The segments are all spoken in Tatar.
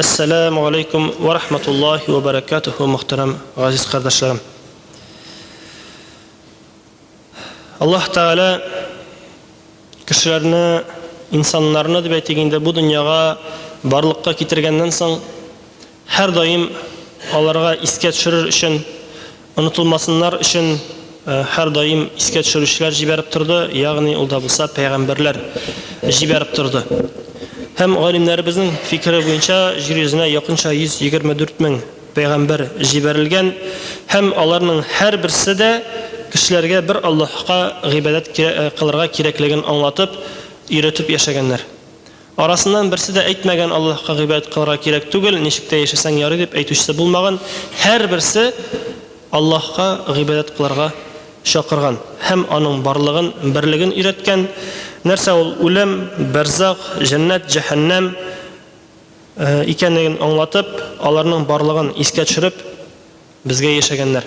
Әссәләмү галәйкүм вә рахматуллаһи вә бәрәкәтүһү мөхтәрәм газиз кардәшләрем. Аллаһ Тәгалә кешеләрне, инсаннарны дип әйтик инде бу дөньяга барлыкка китергәннән соң һәрдаим аларга искә төшерер өчен Онытылмасыннар өчен һәрдаим искә төшерүчеләр җибәреп торды, ягъни ул да булса пәйгамбәрләр җибәреп торды. Һәм галимнәребезнең фикере буенча җир йөзенә якынча 124 мең пәйгамбәр җибәрелгән һәм аларның һәрберсе дә кешеләргә бер Аллаһка гыйбадәт кылырга кирәклеген аңлатып, өйрәтеп яшәгәннәр. Арасыннан берсе дә әйтмәгән, Аллаһка гыйбадәт кылырга кирәк түгел, ничек тә яшәсәң ярый дип әйтүчесе булмаган, һәрберсе Аллаһка гыйбадәт кылырга чакырган һәм аның барлыгын, берлеген өйрәткән. Нәрсә ул үлем, бәрзах, җәннәт, җәһәннәм икәнлеген аңлатып, аларның барлыгын искә төшереп, Безгә яшәгәннәр.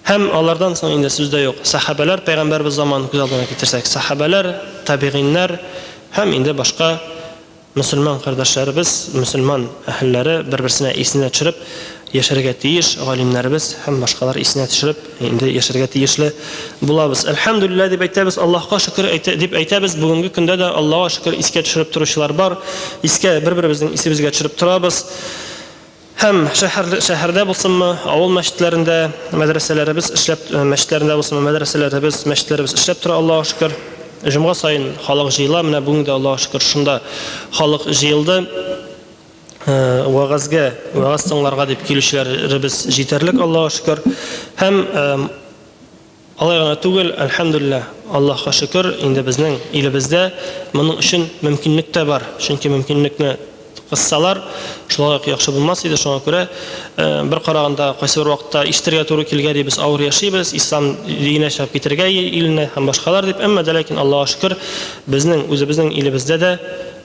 Һәм алардан соң инде сүз дә юк. Сәхабәләр, пәйгамбәребез заманын күз алдына китерсәк, сәхабәләр, табигыйннәр һәм инде башка мөселман кардәшләребез, мөселман әһелләре бер-берсенә исенә төшереп яшәргә тиеш, галимнәребез һәм башкалар исенә төшереп инде яшәргә тиешле булабыз. Әлхәмдүлилләһ дип әйтәбез, Аллаһка шөкер әйтә, дип әйтәбез. Бүгенге көндә дә Аллага шөкер искә төшереп торучылар бар. Искә бер-беребезнең исебезгә төшереп торабыз. Һәм шәһәр, шәһәрдә булсынмы, авыл мәчетләрендә, мәдрәсәләребез эшләп, мәчетләрендә булсынмы, мәдрәсәләребез, мәчетләребез эшләп тора, Аллаһуга шөкер. Җомга саен халык җыела, менә бүген дә, Аллаһуга шөкер, шунда халык җыелды. Вәгазьгә, вәгазь тыңларга дип килүчеләребез җитәрлек, Аллаһуга шөкер. Һәм Алай гына түгел, әлхәмдүлилләһ, Аллаһка шөкер, инде безнең илебездә моның өчен мөмкинлек тә бар. Чөнки мөмкинлекне кыссалар, шулай ук яхшы булмас иде. Шуңа күрә бер караганда кайсыбер вакытта ишетергә туры килгән ди, без авыр яшибез, ислам диенә чыгып китергә иленә һәм башкалар дип. Әмма дә ләкин Аллага шөкер, безнең үзебезнең илебездә дә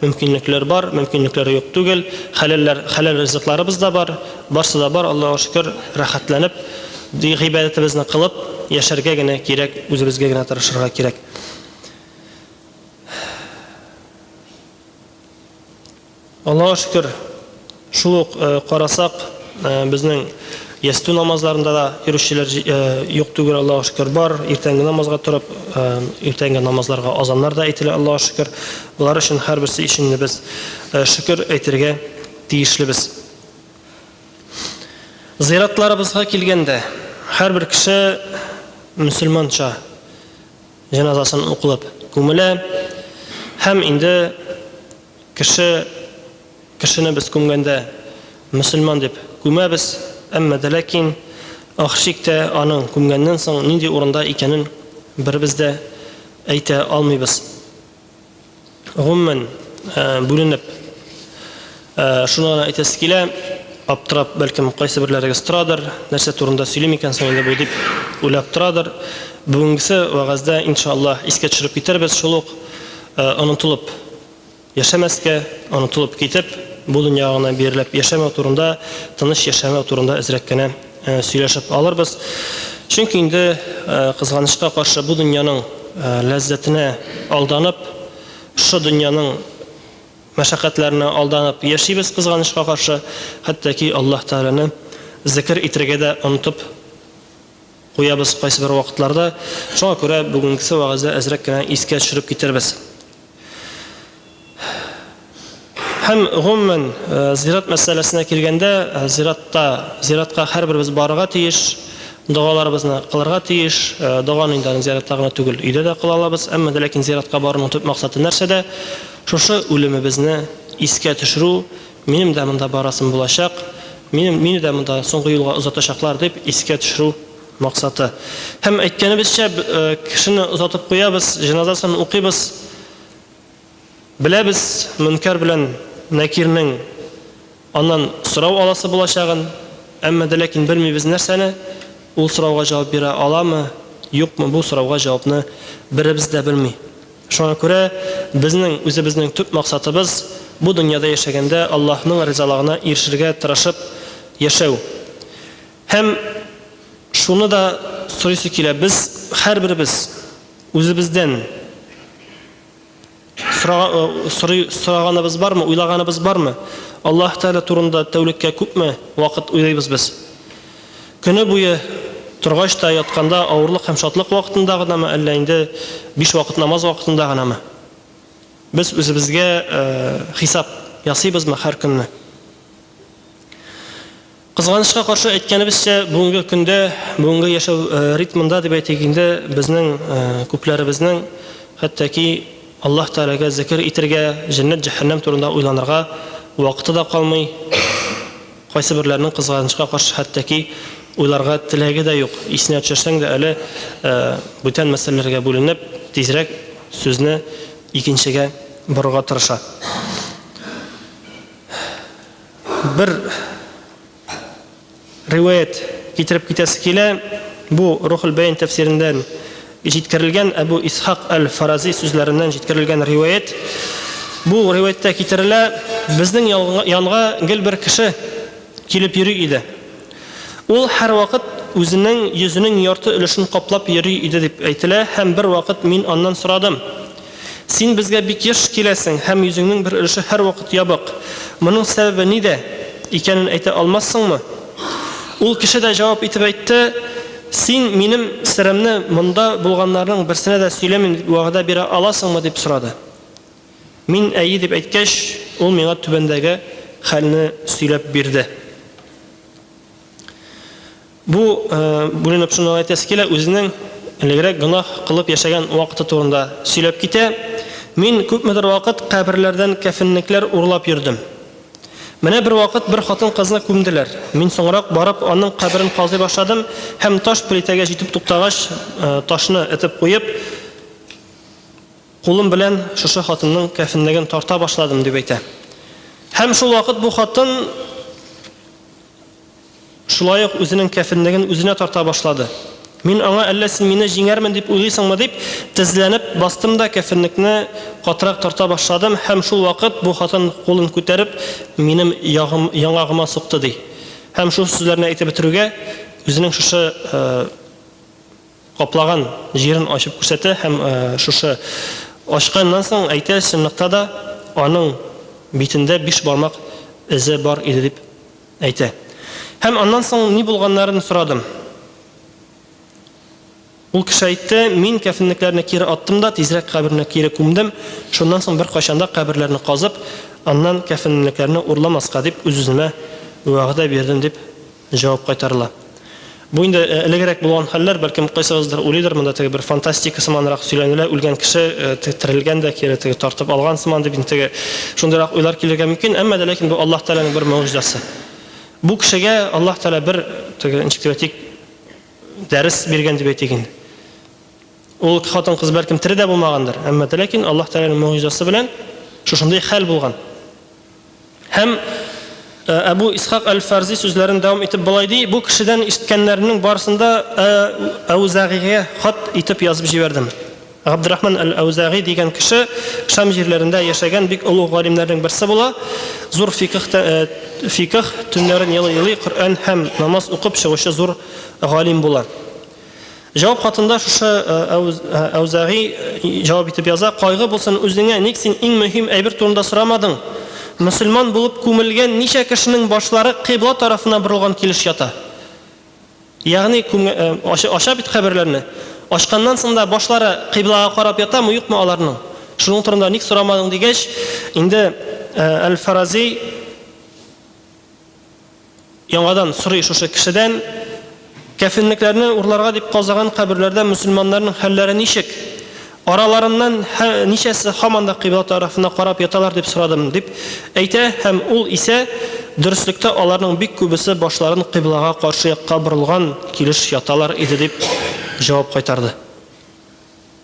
мөмкинлекләр бар, мөмкинлекләр юк түгел. Хәләлләр, хәләл ризыкларыбыз да бар. Барсы да бар, Аллага шөкер, рәхәтләнеп, ди гыйбадәтебезне кылып, яшәргә генә кирәк, үзебезгә генә тырышырга кирәк. Аллага шөкер, шул ук э, карасак, э, безнең ястү намазларында да йөрүчеләр э, юк түгел, Аллага шөкер, бар. Иртәнге намазга торып, иртәнге намазларга азаннар да әйтелә, Аллага шөкер. Болар өчен һәрберсе өчен без шөкер әйтергә тиешлебез. Зыйратларыбызга килгәндә, һәрбер кеше мөселманча җеназасын укылып күмелә һәм инде кеше кешене без күмгәндә мөселман дип күмәбез, әмма дә ләкин ахшиктә аның күмгәннән соң нинди урында икәнен беребез дә әйтә алмыйбыз. гомумән, бүленеп, шуны гына әйтәсе килә, аптырап, бәлкем, кайсы берләрегез торадыр, нәрсә турында сөйлим икән соң инде бу дип уйлап торадыр. Бүгенгесе вәгазьдә, иншаллаһ, искә төшереп китербез, шул ук онытылып яшәмәскә, онытылып китеп, бу дөнья гына бирелеп яшәмәү турында, тыныч яшәмәү турында әзрәк кенә сөйләшеп алырбыз. Чөнки инде кызганычка каршы бу дөньяның ләззәтенә алданып, шушы дөньяның мәшәкатьләренә алданып яшибез кызганычка каршы, хәтта ки Аллаһ Тәгаләне зикер итергә дә онытып куябыз кайсы бер вакытларда. Шуңа күрә бүгенгесе вәгазьдә әзрәк кенә искә төшереп китербез. Һәм гомумән э, зират мәсьәләсенә килгәндә, э, зиратта, зиратка һәрберебез барырга тиеш, догаларыбызны кылырга тиеш. Э, доганы инде аны зиратта гына түгел, өйдә дә кыла алабыз. Әмма дә ләкин зиратка баруның төп максаты нәрсәдә? Шушы үлемебезне искә төшерү, минем дә монда барасым булачак, минем мине дә монда соңгы юлга озатачаклар дип искә төшерү Максаты. Һәм әйткәнебезчә, кешене озатып куябыз, җеназасын укыйбыз. Беләбез, Мөнкәр белән Нәкирнең аннан сорау аласы булачагын, әмма дә ләкин белмибез нәрсәне, ул сорауга җавап бирә аламы, юкмы, бу сорауга җавапны беребез дә белми. Шуңа күрә безнең үзебезнең төп максатыбыз, бу дөньяда яшәгәндә Аллаһның ризалыгына ирешергә тырышып яшәү. Һәм шуны да сорыйсы килә, без һәрберебез үзебездән сораганыбыз бармы, уйлаганыбыз бармы? Аллаһ Тәгалә турында тәүлеккә күпме вакыт уйлыйбыз без? Көне буе торгач та, ятканда, авырлык һәм шатлык вакытында гынамы, әллә инде биш вакыт намаз вакытында гынамы? Без үзебезгә хисап ясыйбызмы һәр көнне? Кызганычка каршы әйткәнебезчә, бүгенге көндә, бүгенге яшәү ритмында дип әйтик инде, безнең күпләребезнең хәттәки Аллаһ Тәгаләгә зекер итергә, җәннәт-җәһәннәм турында уйланырга вакыты да калмый, кайсыберләренең кызганычка каршы хәттәки уйларга теләге дә юк, исенә төшерсәң дә әле бүтән мәсьәләләргә бүленеп, тизрәк сүзне икенчегә борырга тырыша. Бер риваять китереп китәсе килә. Бу Рухул Бәйн тәфсирендән җиткерелгән Әбу Исхак әл-Фарази сүзләреннән җиткерелгән риваять. Бу риваяттә китерелә, безнең янга гел бер кеше килеп йөри иде. Ул һәрвакыт үзенең йөзенең ярты өлешен каплап йөри иде дип әйтелә һәм бервакыт мин аннан сорадым. Син безгә бик еш киләсең һәм йөзеңнең бер өлеше һәрвакыт ябык. Моның сәбәбе нидә икәнен әйтә алмассыңмы? Ул кеше дә җавап итеп әйтте, Син минем серемне монда булганнарның берсенә дә сөйләмим дип вәгъдә бирә аласыңмы? дип сорады. Мин әйе дип әйткәч, ул миңа түбәндәге хәлне сөйләп бирде. Бу бүленеп шуны әйтәсе килә, үзенең элегрәк гөнаһ кылып яшәгән вакыты турында сөйләп китә. Мин күпмедер вакыт каберләрдән кәфенлекләр урлап йөрдем. Менә бервакыт бер хатын-кызны күмделәр. Мин соңрак барып аның каберен казый башладым һәм таш плитәгә җитеп туктагач, ташны этеп куеп, кулым белән шушы хатынның кәфенлеген тарта башладым, дип әйтә. Һәм шул вакыт бу хатын Шулай ук үзенең кәфенлеген үзенә тарта башлады. Мин аңа, әллә син мине җиңәрмен дип уйлыйсыңмы, дип, тезләнеп бастым да кәфенлекне катырак тарта башладым һәм шул вакыт бу хатын кулын күтәреп минем ягым, яңагыма сукты, ди. Һәм шул сүзләрне әйтеп бетерүгә, үзенең шушы каплаган җирен ачып күрсәтә һәм шушы ачканнан соң әйтә, чынлыкта да аның битендә биш бармак эзе бар иде дип. Әйтә. Һәм аннан соң ни булганнарын сорадым. Ул кеше әйтте, мин кәфенлекләрне кире аттым да, тизрәк каберенә кире күмдем, шуннан соң беркайчан да каберләрне казып, аннан кәфенлекләрне урламаска дип үз-үземә вәгъдә бирдем, дип җавап кайтарыла. Бу инде элегрәк булган хәлләр, бәлкем кайсыгыздыр уйлыйдыр, монда теге бер фантастика сыманрак сөйләнелә, үлгән кеше терелгән дә, кире теге тартып алган сыман дип инде теге шундыйрак уйлар килергә мөмкин, әмма дә ләкин бу Аллаһ Тәгаләнең бер могҗизасы. Бу кешегә Аллаһ Тәгалә бер теге ничек дип әйтик, дәрес биргән дип әйтик инде. Ул хатын-кыз бәлкем тере дә булмагандыр, әмма дә ләкин Аллаһ Тәгаләнең могҗизасы белән шушындый хәл булган. Һәм Әбу Исхак Әл-Фарзи сүзләрен дәвам итеп болай ди, бу кешедән ишеткәннәрнең барысын да Әүзагигә хат итеп язып җибәрдем. Габдрахман әл-Әүзәги дигән кеше Шам җирләрендә яшәгән бик олуг галимнәрнең берсе була. Зур фикх э, фикх төннәрен елый-елый Коръән һәм намаз укып чыгучы зур галим була. Җавап хатында шушы Әүзәгый җавап итеп яза, кайгы булсын үзеңә, ник син иң мөһим әйбер турында сорамадың? Мөселман булып күмелгән ничә кешенең башлары кыйбла тарафына борылган килеш ята? Ягъни, ача бит каберләрне. Ачканнан соң да башлары кыйблага карап ятамы, юкмы аларның? Шуның турында ник сорамадың дигәч, инде Әл-Фарази Яңадан сорый шушы кешедән, кәфенлекләрне урларга дип казыган каберләрдә мөселманнарның хәлләре ничек? Араларыннан һә ничәсе һаман да кыйбла тарафына карап яталар дип сорадым, дип әйтә һәм ул исә, Дөреслектә аларның бик күбесе башларын кыйблага каршы якка борылган килеш яталар иде, дип җавап кайтарды.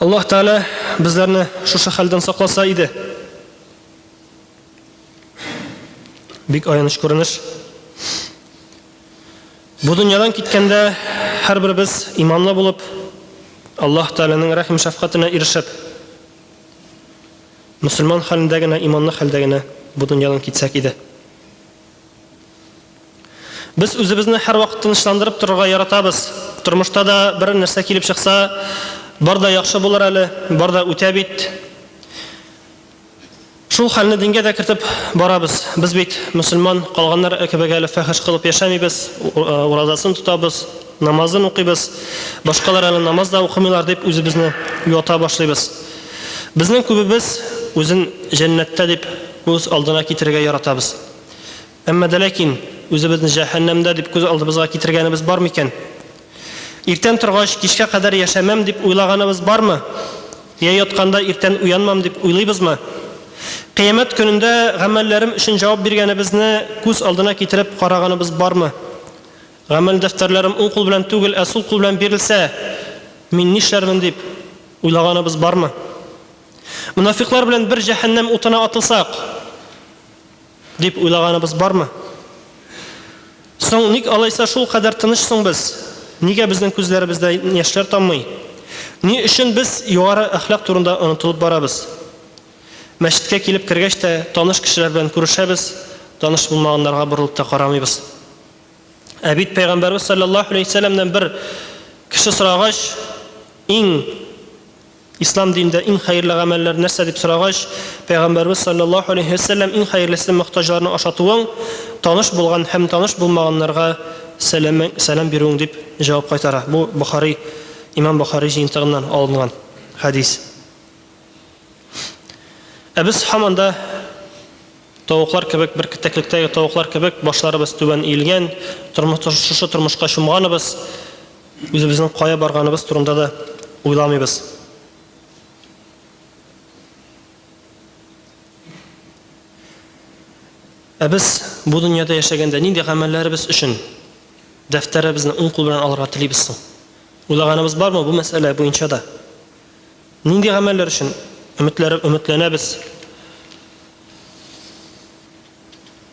Аллаһ Тәгалә безләрне шушы хәлдән сакласа иде. Бик аяныч күренеш. Бу дөньядан киткәндә һәрберебез иманлы булып, Аллаһ Тәгаләнең рәхим шәфкатенә ирешеп, мөселман хәлендә генә, иманлы хәлдә генә бу дөньядан китсәк иде. Без үзебезне һәрвакыт тынычландырып торырга яратабыз. Тормышта да бер нәрсә килеп чыкса, бар да яхшы булыр әле, бар да үтә бит. Шул хәлне дингә дә кертеп барабыз. Без бит мөселман, калганнар кебек әле фәхеш кылып яшәмибез, уразасын тотабыз, намазын укыйбыз. Башкалар әле намаз да укымыйлар, дип үзебезне юата башлыйбыз. Безнең күбебез үзен җәннәттә дип күз алдына китерергә яратабыз. Әмма дә ләкин үзебезне җәһәннәмдә дип күз алдыбызга китергәнебез бар микән? Иртән торгач, кичкә кадәр яшәмәм дип уйлаганыбыз бармы? Йә ятканда иртән уянмам дип уйлыйбызмы? Кыямәт көнендә гамәлләрем өчен җавап биргәнебезне күз алдына китереп караганыбыз бармы? Гамәл дәфтәрләрем уң кул белән түгел, ә сул кул белән бирелсә, мин нишләрмен дип уйлаганыбыз бармы? Монафикълар белән бер җәһәннәм утына атылсак, Дип уйлаганыбыз бармы? Соң ник алайса шулкадәр тыныч соң без? Нигә безнең күзләребездә яшьләр таммый? Ни өчен без югары әхлак турында онытылып барабыз? Мәчеткә килеп кергәч тә, таныш кешеләр белән күрешәбез, таныш булмаганнарга борылып та карамыйбыз. Ә бит Пәйгамбәрбез салләллаһу алейһи вә сәлләмнән бер кеше сорагач, иң Ислам динендә иң хәерле гамәлләр нәрсә дип сорагач, Пәйгамбәрбез саллаллаһу алейһи ва сәлләм иң хәерлесе мохтаҗларны ашатуың, таныш булган һәм таныш булмаганнарга сәлам сәлам бирүең дип җавап кайтара. Бу Бохари Имам Бохари җыентыгыннан алынган хәдис. Ә без һаман да тавыклар кебек бер китәклектәге тавыклар кебек башларыбыз түбән иелгән, тормыш шушы тормышка чумганыбыз. Үзебезнең кая барганыбыз турында да уйламыйбыз. Ә без бу дөньяда яшәгәндә нинди гамәлләребез өчен дәфтәребезне уң кул белән алырга телибез соң? Уйлаганыбыз бармы бу мәсьәлә буенча да? Нинди гамәлләр өчен өметләр, өметләнәбез?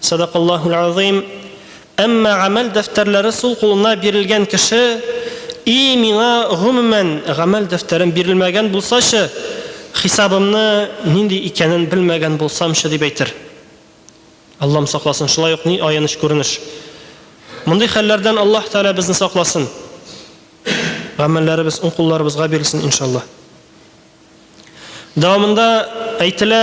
Садакаллаһул азыйм. Әмма гамәл дәфтәрләре сул кулына бирелгән кеше, И миңа, гомумән, гамәл дәфтәрем бирелмәгән булсачы, хисабымны нинди икәнен белмәгән булсамчы, дип әйтер. Аллам сакласын, шулай ук ни аяныч күренеш. Мондый хәлләрдән Аллаһ Тәгалә безне сакласын. Гамәлләребез уң кулларыбызга бирелсен, иншалла. Дәвамында әйтелә,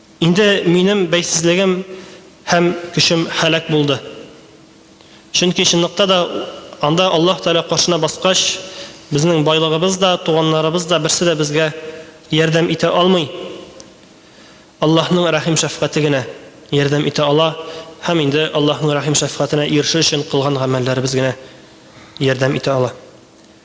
Инде минем бәйсезлегем һәм көчем һәлак булды. Чөнки чынлыкта да анда Аллаһ Тәгалә каршына баскач, безнең байлыгыбыз да, туганнарыбыз да берсе дә безгә ярдәм итә алмый. Аллаһның рәхим-шәфкате генә ярдәм итә ала һәм инде Аллаһның рәхим-шәфкатенә ирешер өчен кылган гамәлләребез генә ярдәм итә ала.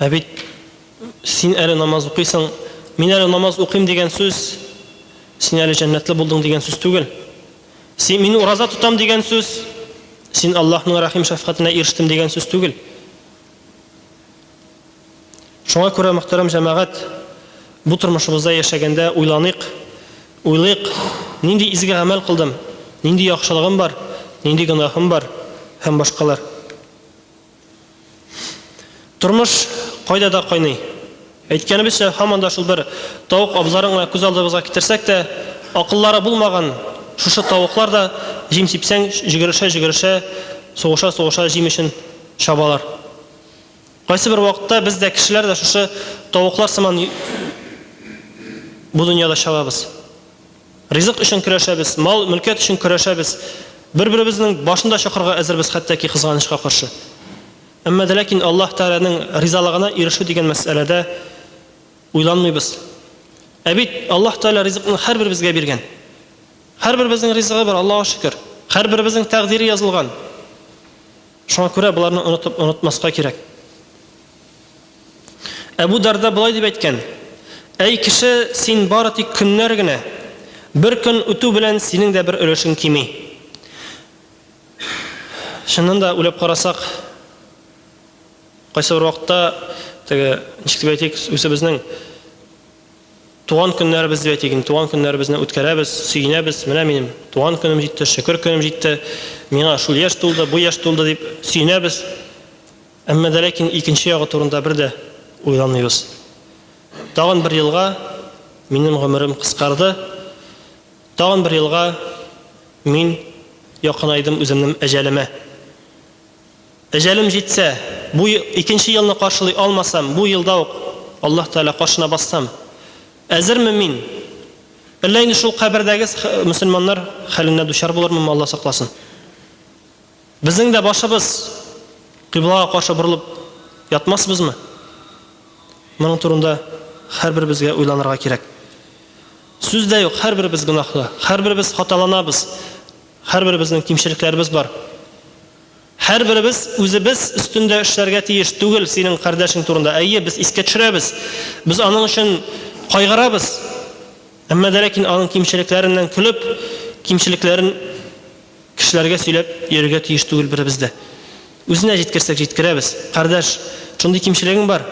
Ә бит син әле намаз укыйсың, мин әле намаз укыйм дигән сүз, син әле җәннәтле булдың дигән сүз түгел. Син мин ураза тотам дигән сүз, син Аллаһның рәхим шәфкатенә ирештем дигән сүз түгел. Шуңа күрә мөхтәрәм җәмәгать, бу тормышыбызда яшәгәндә уйланыйк, уйлыйк, нинди изге гамәл кылдым, нинди яхшылыгым бар, нинди гөнаһым бар һәм башкалар. Тормыш кайда да кайный. Әйткәнебезчә, һаман да шул бер тавык абзарын гына күз алдыбызга китерсәк тә, акыллары булмаган шушы тавыклар да, җим сипсәң, җөгерешә-җөгерешә, сугыша-сугыша җим өчен чабалар. Кайсыбер вакытта без дә, кешеләр дә шушы тавыклар сыман бу дөньяда чабабыз. Ризык өчен көрәшәбез, мал, мөлкәт өчен көрәшәбез, бер-беребезнең башын да чокырга әзербез хәтта ки кызганычка каршы. Әмма дә ләкин Аллаһ Тәгаләнең ризалыгына ирешү дигән мәсьәләдә уйланмыйбыз. Ә бит Аллаһ Тәгалә ризыкны һәрберебезгә биргән. Һәрберебезнең ризыгы бар, Аллага шөкер. Һәрберебезнең тәкъдире язылган. Шуңа күрә боларны онытып, онытмаска кирәк. Әбу Дарда болай дип әйткән, Әй кеше, син бары тик көннәр генә, бер көн үтү белән синең дә бер өлешең кими. Чыннан да уйлап карасак, кайсы бер вакытта теге ничек дип әйтик, үзебезнең туган көннәребез дип әйтик, туган көннәребезне үткәрәбез, сөенәбез, менә минем туган көнем җитте, шөкер көнем җитте, миңа шул яшь тулды, бу яшь тулды дип сөенәбез. Әмма дә ләкин икенче ягы турында бер дә уйламыйбыз. Тагын бер елга минем гомерем кыскарды, тагын бер елга мин якынайдым үземнем әҗәлемә. Әҗәлем җитсә, бу икенче елны каршылый алмасам, бу елда ук Аллаһ Тәгалә каршына бассам, әзерме мин? Әллә инде шул кабердәге мөселманнар хәленә дучар булырмынмы, Алла сакласын. Безнең дә башыбыз кыйблага каршы борылып ятмасбызмы? Моның турында һәрберебезгә уйланырга кирәк. Сүз дә юк, һәрберебез гөнаһлы, һәрберебез хаталанабыз, һәрберебезнең кимчелекләребез бар. Һәрберебез үзебез өстендә эшләргә тиеш түгел, синең кардәшең турында. Әйе, без искә төшерәбез, без аның өчен кайгырабыз, әмма дә ләкин аның кимчелекләреннән көлеп, кимчелекләрен Кешеләргә сөйләп йөрергә тиеш түгел беребез дә. Үзенә җиткерсәк җиткерәбез, Кардәш, шундый кимчелегең бар,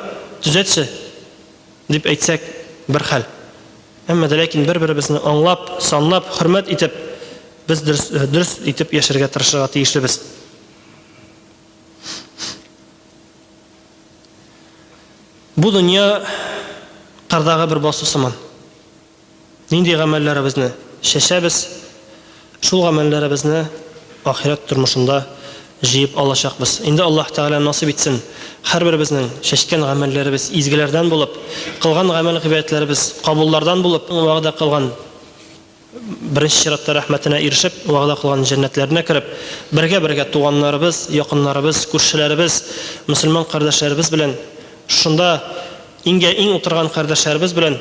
төзәтче! дип әйтсәк, бер хәл. Әмма дә ләкин бер-беребезне аңлап, санлап, хөрмәт итеп, без дөрес, дөрес итеп яшәргә тырышырга тиешлебез. Бу дөнья кардагы бер басу сыман. Нинди гамәлләребезне чәчәбез, шул гамәлләребезне ахирәт тормышында җыеп алачакбыз. Инде Аллаһ Тәгалә насыйп итсен, һәрберебезнең чәчкән гамәлләребез изгеләрдән булып, кылган гамәл-гыйбадәтләребез кабуллардан булып, вәгъдә кылган, беренче чиратта, рәхмәтенә ирешеп, вәгъдә кылган җәннәтләренә кереп, бергә-бергә туганнарыбыз, якыннарыбыз, күршеләребез, мөселман кардәшләребез белән, шунда иңгә-иң утырган кардәшләребез белән